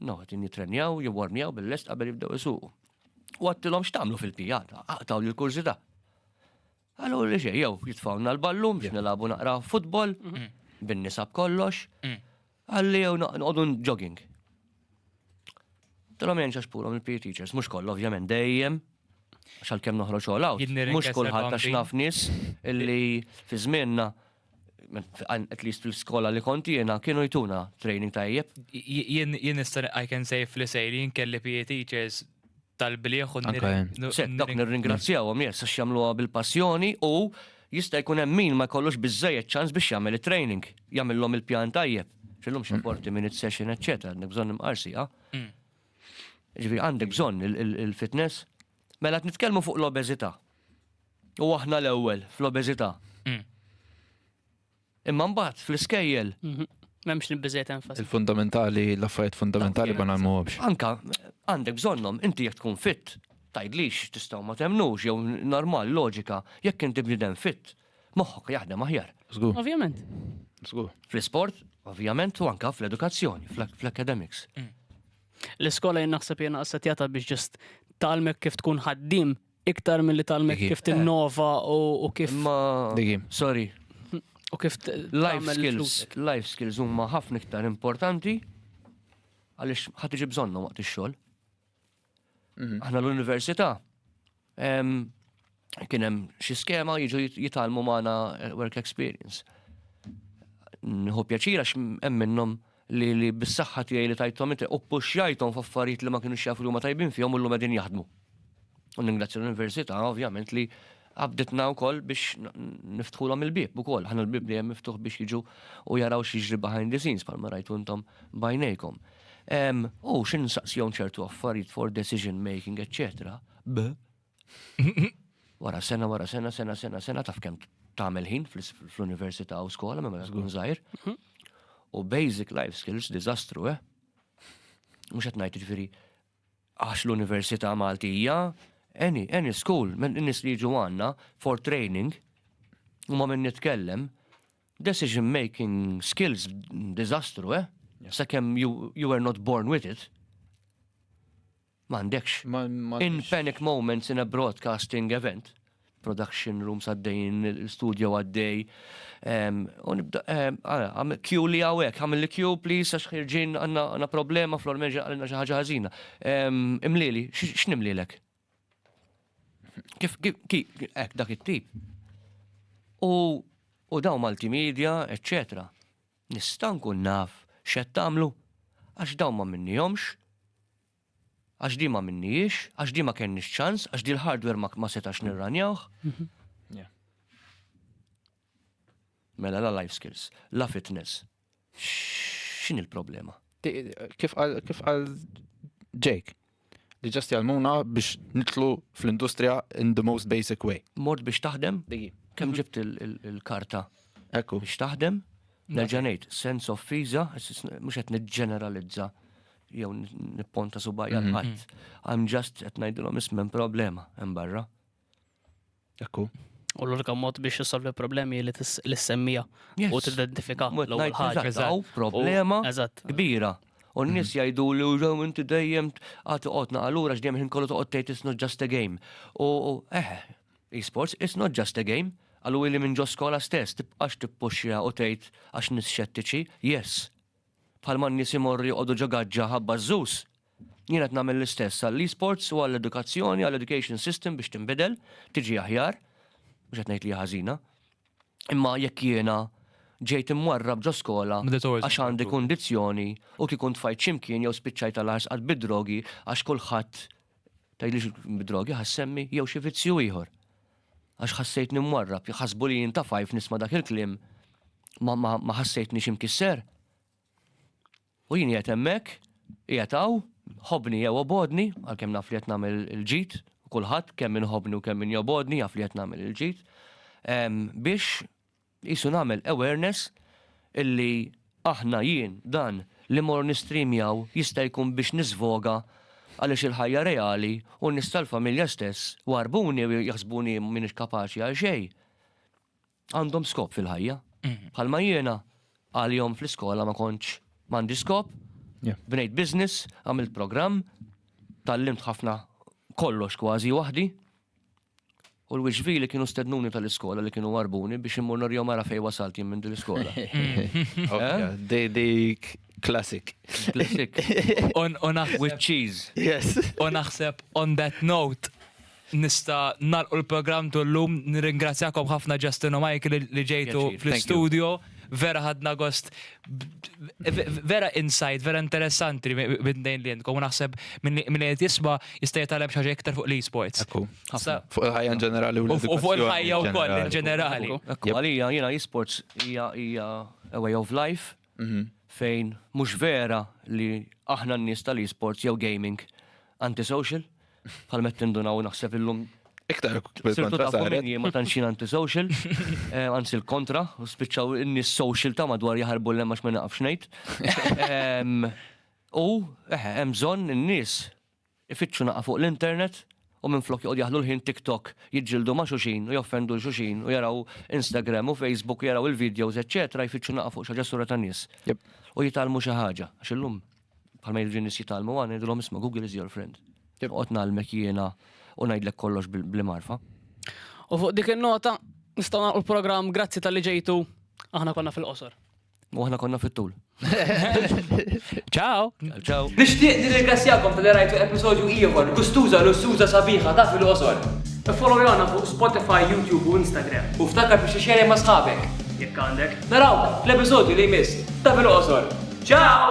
No, qegħdin jittrenjaw, jiwarmjaw bil-lest qabel jibdew isuqu. U għattilhom x'tagħmlu fil-pijata, aqtaw lil kurżità. Għallu li xej, jew jitfawna l-ballum biex nilabu naqra futbol, mhm. bin-nisab kollox, mhm. għalli jew noqogħdu jogging. Tilhom jenċax pulhom il-PE teachers, mhux kollu ovvjament dejjem, għax għalkemm noħroġ għolaw, mhux kulħadd għax naf nies illi fi żmienna at least fil-skola li kont jiena kienu jtuna training tajjeb. Jien nista' I can say fl-isejr jien kelli PE teachers tal-bliħ u Dak nirringrazzjawhom jess għax jagħmluha bil-passjoni u jista' jkun hemm min ma jkollux biżejjed ċans biex jagħmel it-training, jagħmilhom il-pjan tajjeb. Xillum xi 40 minute session, eċċetera, għandek bżonn imqarsi, ah? Ġifi għandek bżonn il-fitness. Mela qed nitkellmu fuq l-obeżità. U aħna l-ewwel fl-obeżità. Mm. Imma mbagħad fl-iskejjel. Mhm. M'hemmx nibbiżejt enfasi. Il-fundamentali, l-affarijiet fundamentali ma nagħmluhomx. Anka għandek bżonnhom, inti jekk tkun fit, tgħidlix tistgħu ma temnux jew normal loġika jekk inti bniedem fit, moħħok jaħdem aħjar. Żgur. Ovvjament. Żgur. Fl-isport, ovvjament, u anka fl-edukazzjoni, fl-academics. Mm. L-iskola jien naħseb jien assetjata biex ġest talmek kif tkun ħaddim iktar mill-li talmek kif tinnova u kif. Ma. Sorry. U kif. Life skills. Life skills huma ħafna iktar importanti għaliex ħadd iġi bżonnhom waqt ix-xogħol. Mhm. Aħna l-università Kien hemm xi skema jiġu jitalmu magħna eh, work experience. Nħu pjaċir għax hemm minnhom li li bis-saħħa tiegħi li tajthom inti u puxxajthom f'affarijiet li ma kienux jafu li huma tajbin fihom u llum qegħdin jaħdmu. U ningrazzja l-Università ovvjament li għabditna wkoll biex niftħulhom il-bieb ukoll. Ħana l-bieb li hemm miftuħ biex jiġu u jaraw xi ġri behind the scenes palma rajtu intom bajnejkom. U xin saqsjon ċertu affarijiet for decision making, etc. B. Wara sena, wara sena, sena, sena, sena, taf kem tamel ħin fl-università u skola, ma mela tkun zaħir. Mhm. U basic life skills, dizastru, eh? Mux għetnajt ġifiri, għax l-università Maltija, any, any school, minn nis li ġu għanna, for training, u ma minn nitkellem, Decision making skills diżastru, eh? Sakemm you, you were not born with it. M'għandekx. In panic moments in a broadcasting event, production rooms għaddejn, studio għaddej. Kju li għawek, għamil li kju, please, għax ħirġin għanna problema, flor meġa għalina xaħġa ħazina. Imlili, x'nimlilek? Kif, kif, ek, dak it-tip. U, u daw multimedia, eccetera. Nista' nkun naf x'qed tagħmlu? Għax dawn ma minnihomx, għax di ma minnijiex, għax di ma kenniex ċans, għax di l-hardware ma, ma setax nirranjawh. Mhm. Mela la life skills, la fitness, X'in il-problema? Kif għal Jake, li ġast jgħalmuna biex nitlu fl-industrija in the most basic way. Mort biex taħdem? Kem mhm. ġibt il-karta? Ekku. Biex taħdem? Nerġanejt, sense of fiza, mux għet nġeneralizza jew nipponta subajja mhm. l-ħadd. I'm just qed ngħidilhom ismem problema hemm barra. Ekku. U l-unika mod biex jissolvi problemi li l-semmija u t-identifika l-ewwel ħaġa. problema kbira. U n-nis mm. jajdu li użaw inti dejjem għati qotna għallura x'dejjem ħin kollu toqgħod tgħid it's not just a game. U eh, e-sports it's not just a game. Għallu li minn ġo skola stess tibqax tippuxxja u tgħid għax nis xettiċi, yes. Bħal man nies imorri joqogħdu ġo gaġġa ħabba żus. Jien qed nagħmel l-istess għall-esports u għall-edukazzjoni, għall-education system biex tinbidel, tiġi aħjar, mhux qed ngħid li hija ħażina. Imma jekk jiena ġejt imwarrab ġo skola għax għandi kundizzjoni u kieku ntfajt x'imkien jew spiċċajt għal ħarsqat bid-drogi għax kulħadd tgħidlix bid-drogi ħassemmi jew xi vizzju ieħor. Għax ħassejtni mwarrab, ħasbu li jien tafajf nisma' dak il-kliem ma ħassejtni xi mkisser. U jien qiegħed hemmhekk, qiegħed hawn, ħobbni jew obgħodni, għalkemm naf li qed nagħmel il-ġid, u kulħadd, kemm min iħobbni u kemm min jobgħodni, jaf li qed nagħmel il-ġid, biex qisu nagħmel awareness illi aħna, jien, dan li mmur nistreamjaw jista' jkun biex niżvoga għaliex il-ħajja reali u n-nies tal-familja stess warbuni u jaħsbuni m'iniex kapaċi għal xejn. għandhom skop fil-ħajja. Bħalma jiena għal-jom fl-iskola ma konċ mandi skop, bnejt biznis, għamilt program, tal-limt ħafna kollox kważi wahdi. U l-wixvi li kienu stednuni tal-iskola li kienu warbuni biex immur norjom mara fej wasalt jim minn dil-iskola. Dik klassik. Klassik. On a with cheese. Yes. On a on that note. Nista' nagħlqu l-programm tu llum. Nirringrazzjakom ħafna Justin u Michael li ġejtu fl-istudio. Vera ħadna gost vera insight, vera interessanti minn dejn li jentkom. U naħseb minn li qed jisma' jista' jitgħallem xi ħaġa iktar fuq l-esports. Ekku. Fuq il-ħajja in ġenerali u l-edukazzjoni. U fuq il-ħajja wkoll in ġenerali. Għalija jiena esports hija a way of life. fejn mhux vera li aħna n-nies tal-esports jew gaming antisocial, bħal mett nindunaw naħseb illum. Iktar sirtu ta' minni ma tantx jien antisocial, anzi l-kontra, u spiċċaw in-nies social ta' madwar jaħarbu l-hemm għax ma naqafx ngħid. U eħe, hemm bżonn in-nies Ifittxu nagħqa fuq l-internet u minflok joqgħodu jaħlu l-ħin TikTok jiġġieldu ma' xulxin u joffendu 'l xulxin u jaraw Instagram u Facebook u jaraw il-videos eċċetera jfittxu nagħqa fuq xi ħaġa sura tan-nies u jitgħallmu xi ħaġa għax illum bħalma jiġu n-nies jitgħallmu hawn ngħidulhom isma' Google is your friend. Noqgħod ngħallmek jiena u ngħidlek kollox b'li magħrfa. U fuq dik in-nota nistgħu nagħlqu l-programm grazzi talli ġejtu aħna konna fil-qosor. U aħna konna fit-tul. Ciao! Ciao! Nixtieq nirringrazzjakom tal rajtu episodju ieħor, gustuża lussuża sabiħa ta' fil-qosor. Follow jona fuq Spotify, YouTube u Instagram. U ftakar biex ixxerja ma' sħabek. Jekk għandek. Naraw fl-episodju li jmiss ta' fil-qosor. Ciao!